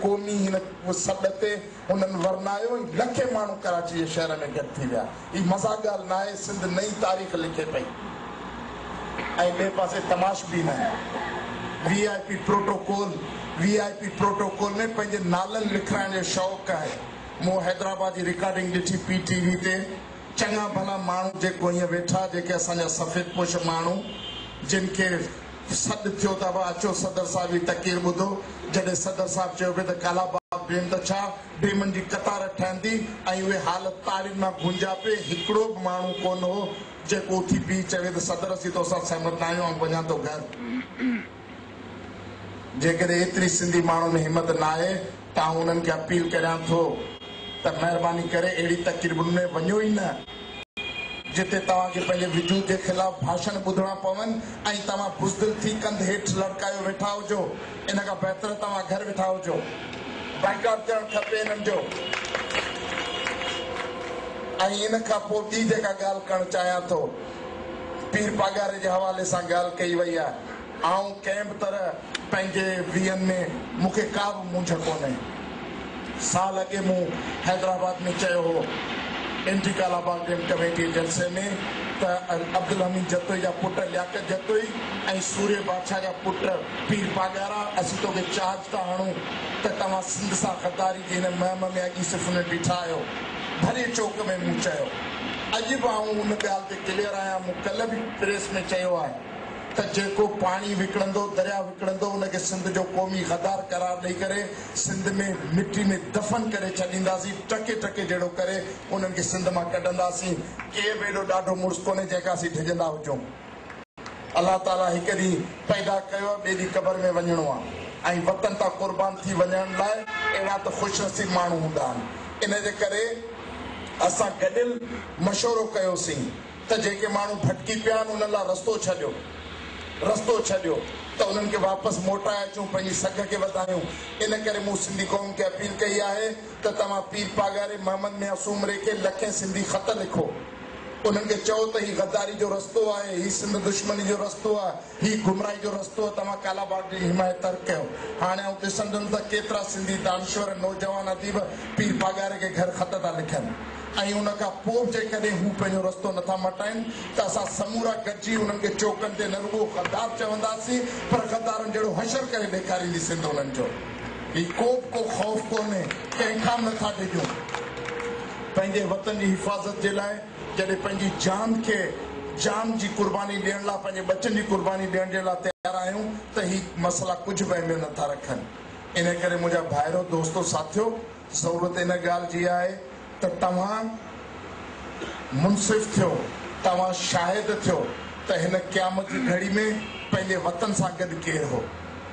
ڪونهي هن سڏ تي انهن ورنايو ۽ لکين ماڻهو ڪراچي جي شهر ۾ گڏ ٿي ويا هي مذاق ڳالهه ناهي سنڌ نئين تاريخ لکي پئي ۽ ٻئي پاسي تماشبين ۽ V I P protocol V I P protocol ۾ پنهنجي نالن لکرائڻ جو شوق آهي مون حيدرآباد جي رڪارڊنگ ڏٺي پي ٽي وي تي چڱا ڀلا ماڻهو جيڪو هيئن ويٺا جيڪي اسان جا سفيد پوش ماڻهو جن کي سڏ ٿيو ته ابا اچو صدر صاحب جي تقرير ٻڌو. جڏهن صدر صاحب چيو پئي ته ڪالا باغ ڊيم ته ڇا ڊيمن جي قطار ٺهندي ۽ اهي حال تارين مان گونجا پئي هڪڙو به ماڻهو ڪونه هو جيڪو اٿي بيهي چوي ته صدر اسين تو سان سهمت ناهيون آئون وڃان ٿو گهر. جيڪڏهن ايتري سنڌي ماڻهن ۾ همت ناهي آئون انهن کي اپيل ڪريان ٿو ته مهرباني ڪري اهڙي تقريبن ۾ وڃو ئي نه جتي توهان کي پنهنجي وجود جي خلاف ڀاشڻ ٻڌڻا پون ۽ توهان بزدل ٿي ڪنڌ هيٺ لڙڪايو ويٺا هجو ان کان بهتر توهان گهر ويٺا هجو بائيڪاٽ ٿيڻ کپي انهن جو ۽ ان کان پوء ٻي جيڪا ڳالهه ڪرڻ چاهيان ٿو پير پاڳاري جي حوالي سان ڳالهه ڪئي وئي آهي. آئون ڪنهن به طرح پنهنجي ويهن ۾ مون کي ڪا به مونجهه ڪونهي. سال اڳي مون حيدرآباد ۾ چيو هو اينٽي ڪالاباغ ڊيم ڪميٽيء جلسي ۾ ته عبدالحميد جتوئي جا پٽ لياقت جتوئي ۽ سوري بادشاهه جا پٽ پير پاڳارا اسين توکي چارج ٿا هڻون ته توهان سنڌ سان غداري جي هن مهم ۾ اڳي صرف انهن بيٺا آهيو ڀري چوڪ ۾ مون چيو اڄ به آئون ان ڳالهه تي ڪليئر آهيان مون ڪلهه به پريس ۾ چيو آهي. ته جيڪو پاڻي وڪڻندو، درياء وڪڻندو، ان کي سنڌ جو قومي غدار قرار ڏئي ڪري سنڌ ۾ مٽي ۾ دفن ڪري ڇڏينداسين، ٽڪي ٽڪي جهڙو ڪري انهن کي سنڌ مان ڪڍنداسين، ڪير به ايڏو ڏاڍو مڙس ڪونهي جنهن کان اسين ڊڄندا هجون. الله تعاليٰ هڪ ڏينهن پيدا ڪيو ٻئي ڏينهن قبر ۾ وڃڻو آهي ۽ وطن تان قربان ٿي وڃڻ لاء اهڙا ته خوش نصيب ماڻهو هوندا آهن، ان جي ڪري اسان گڏيل مشورو ڪيوسين. ته جيڪي ماڻهو ڀٽڪي پيا آهن انهن لاء رستو ڇڏيو رستو ڇڏيو ته انهن کي واپس موٽائي اچون پنهنجي سگهه کي وڌايون ان ڪري مون سنڌي قوم کي اپيل ڪئي آهي ته توهان پير پاڳاري محمد ميان سومري کي لکين سنڌي خط لکو انهن کي چئو ته هي غداري جو رستو آهي هي سنڌ دشمني جو رستو آهي هي گمراهي جو رستو توهان ڪالاباغ جي حمايت ترڪ ڪيو هاڻي آئون ڏسندم ته ڪيترا سنڌي دانشور نوجوان اديب پير پاڳاري کي گهر خط ٿا لکن ۽ ان کان پوء به جيڪڏهن هو پنهنجو رستو نٿا مٽائين ته اسان سمورا گڏجي انهن کي چوڪن تي نه رڳو غدار چونداسين پر غدارن جهڙو حشر ڪري ڏيکاريندي سنڌ انهن جو هي ڪوبه ڪو خوف ڪونهي ڪنهن کان به نٿا ڊڄون پنهنجي وطن جي حفاظت جي لاء جڏهن پنهنجي جان کي جان جي قرباني ڏيڻ لاء پنهنجي ٻچن جي قرباني ڏيڻ جي لاء تيار آهيون ته هي مسئلا ڪجهه به اهميت نٿا رکن انهي ڪري منهنجا ڀائرو دوستو ساٿيو ضرورت ان ڳالهه جي آهي ته توهان منصف ٿيو توهان شاهد ٿيو ته هن قيامت جي گهڙي ۾ پنهنجي وطن سان گڏ ڪير هو.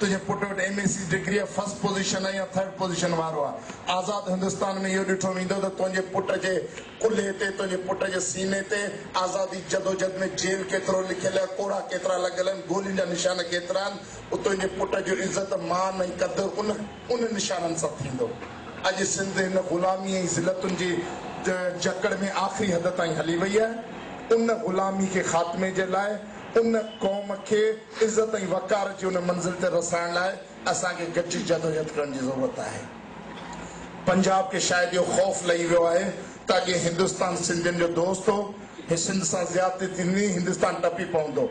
تنهنجي پٽ وٽ ايم اي سي ڊگريء فرسٽ پوزيشن آهي يا ٿرڊ پوزيشن وارو آهي. آزاد هندستان ۾ اهو ڏٺو ويندو ته تنهنجي پٽ جي ڪلهي تي، تنهنجي پٽ جي سيني تي، آزادي جدوجھد ۾ جيل ڪيترو لکيل آهي، ڪوڙها ڪيترا لڳل آهن، گولين جا نشان ڪيترا آهن، پوء تنهنجي پٽ جو عزت، مان ۽ قد ان ان نشانن سان ٿيندو. اڄ سنڌ هن غلامي ۽ ذلتن جي جڪڙ ۾ آخري حد تائين هلي وئي آهي. ان غلامي کي خاتمي جي لاء، ان قوم کي عزت ۽ وقار جي ان منزل تي رسائڻ لاء اسان کي گڏجي جدوجھد ڪرڻ جي ضرورت آھي. پنجاب کي شايد اھو خوف لھي ويو آھي ته اڳي ھندستان سنڌين جو دوست ھو، ھي سنڌ سان زيادتي ٿيندي ھندستان ٽپي پوندو.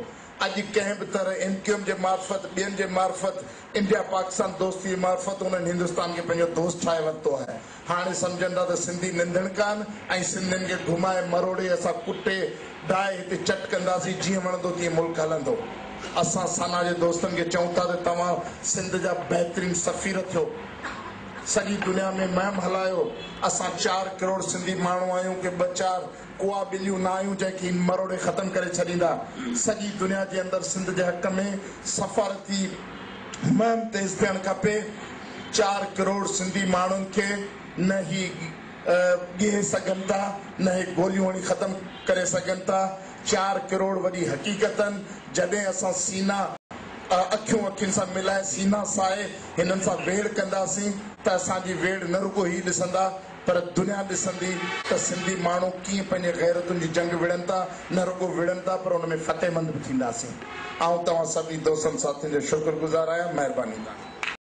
اڄ ڪنھن به طرح ايم ڪيو ايم جي معرفت، ٻين جي معرفت، انڊيا پاڪستان دوستي جي معرفت انھن ھندستان کي پنھنجو دوست ٺاھي ورتو آھي. هاڻي سمجهن ٿا ته سنڌي ننڌڻ ڪان ۽ سنڌين کي گهمائي مروڙي اسان ڪٽي ڊاهي هتي چٽ ڪنداسين جيئن وڻندو تيئن ملڪ هلندو. اسان سنا جي دوستن کي چئون ٿا ته توهان سنڌ جا بهترين سفير ٿيو. سڄي دنيا ۾ مهم هلايو. اسان چار ڪروڙ سنڌي ماڻهو آهيون ڪي ٻه چار اها ٻليون نه آهيون جنهن کي هن مروڙي ختم ڪري ڇڏيندا سڄي دنيا جي اندر سنڌ جي حق ۾ سفارتي مهم تيز ٿيڻ کپي چار ڪروڙ سنڌي ماڻهن کي نه هي ڳهي سگهن ٿا نه هي گوليون هڻي ختم ڪري سگهن ٿا چار ڪروڙ وڏي حقيقتن جڏهن اسان سينا اکيون اکين سان ملائي سينا سائي هنن سان ويڙهه ڪنداسين ته اسان جي ويڙهه نه رڳو هي ڏسندا پر دنيا ڏسندي ته سنڌي ماڻهو ڪيئن پنهنجي غيرتن جي جنگ وڙهن ٿا، نه رڳو وڙهن ٿا پر ان ۾ فتح مند به ٿينداسين. آئون توهان سڀني دوستن ساٿين جو شڪر گذار آهيان. مهرباني تهانجي.